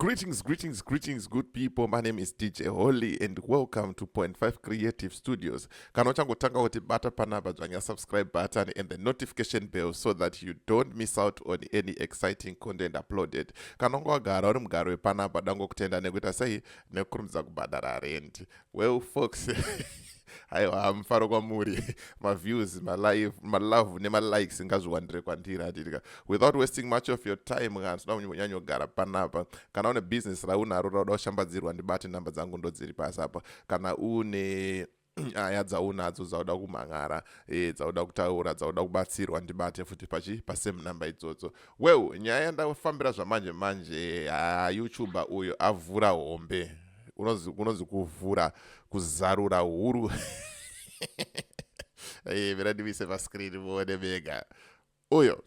Greetings, greetings, greetings, good people. My name is DJ Holy and welcome to Point Five Creative Studios. Kana uchangotanga kuti bata panapa dzvanya subscribe button and the notification bell so that you don't miss out on any exciting content uploaded. Kana unge wagara uri mugaro wepanapa dango kutenda nekuita sei nekukurumidza kubhadhara rent. well fox aiwa hamufaro kwamuri maviews malive malove nemalikes ngazviwandire kwandiri handitika without wasting much of your time kana tinoda kunyanyogara panapa kana une business raunaro rauda kushambadzirwa ndibate nhamba dzangu ndodziri pasi apa kana une nyaya ah, dzaunadzo dzauda kumhang'ara e, dzauda kutaura dzauda kubatsirwa ndibate futi pachi pasame number idzodzo well nyaya yandafambira zvamanje manje ah, youtuber uyo avhura hombe unonzi kuvhura kuzarura huru eh, mira ndimise pascreen muone mega uyo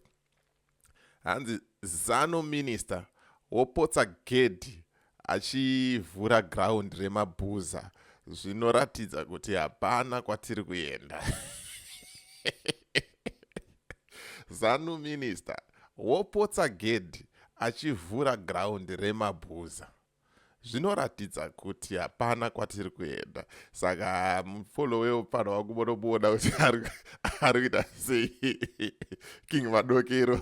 hanzi zano minister wopotsa gedhi achivhura ground remabhuza zvinoratidza kuti hapana kwatiri kuenda zanu minister wopotsa gedhi achivhura ground remabhuza zvinoratidza kuti hapana kwatiri kuenda saka mufolo weupano wangu monomuona kuti ari kuita sei king madokero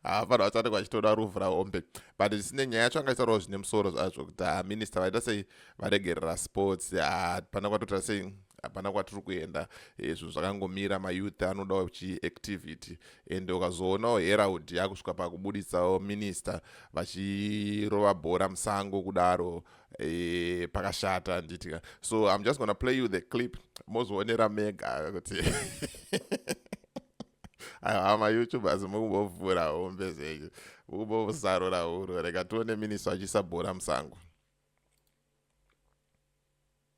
hapana vachati kwachitoda ruvhu rahombe but zvisine nyaya yacho angaitaurawo zvine musoro zvazvo kuti ah, minista vaita sei varegerera sports hapana ah, kwatoita sei hapana kwatiri kuenda eh, zvinhu zvakangomira mayouth anodawo chiactivity ende ukazoonawo herald yakusvika pakubuditsawo minista vachirova bhora musango kudaro e, pakashata handiti ka so im just gonna play you the clip mozoonera mega kuti hama youtubers mukumbovhura hombe zvenyu mukumbovusarura huro reka tione minista achiisa bhora musango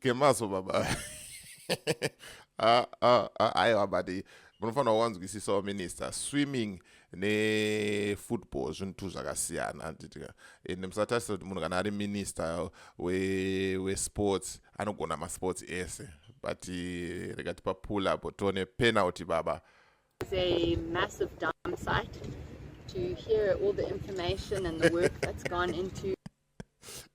kemaso baba aiwa but munofanira kuwanzwisisawo minister swimming nefootball zvinhu tu zvakasiyana anditika ende musatarisa kuti munhu kana ari minister wesports we anogona masports ese but eh, rega tipa pull up tione penalty baba It's a massive dump site to hear all the information and the work that's gone into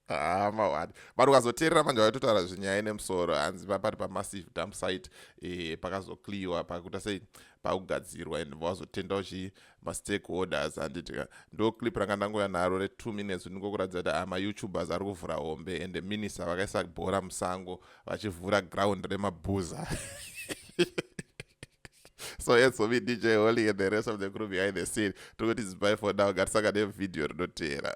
Ah, mawani but ukazoteerera manje vaitotaura zvenyaya ine musoro hanzi papari pamassive dump site eh, pakazokliwa pakuita sei pakugadzirwa and vazotenda uchi mastakeholders handitika ndo clip ranga ndangoya naro retwo minutes ndingokuratidza kuti ah, mayoutubers ari kuvhura hombe and minister vakaisa bhora musango vachivhura ground remabhuza so yes for me dj holy and the rest of the crew behind the scene tokuti zibai for now gatisaka nevideo rinoteera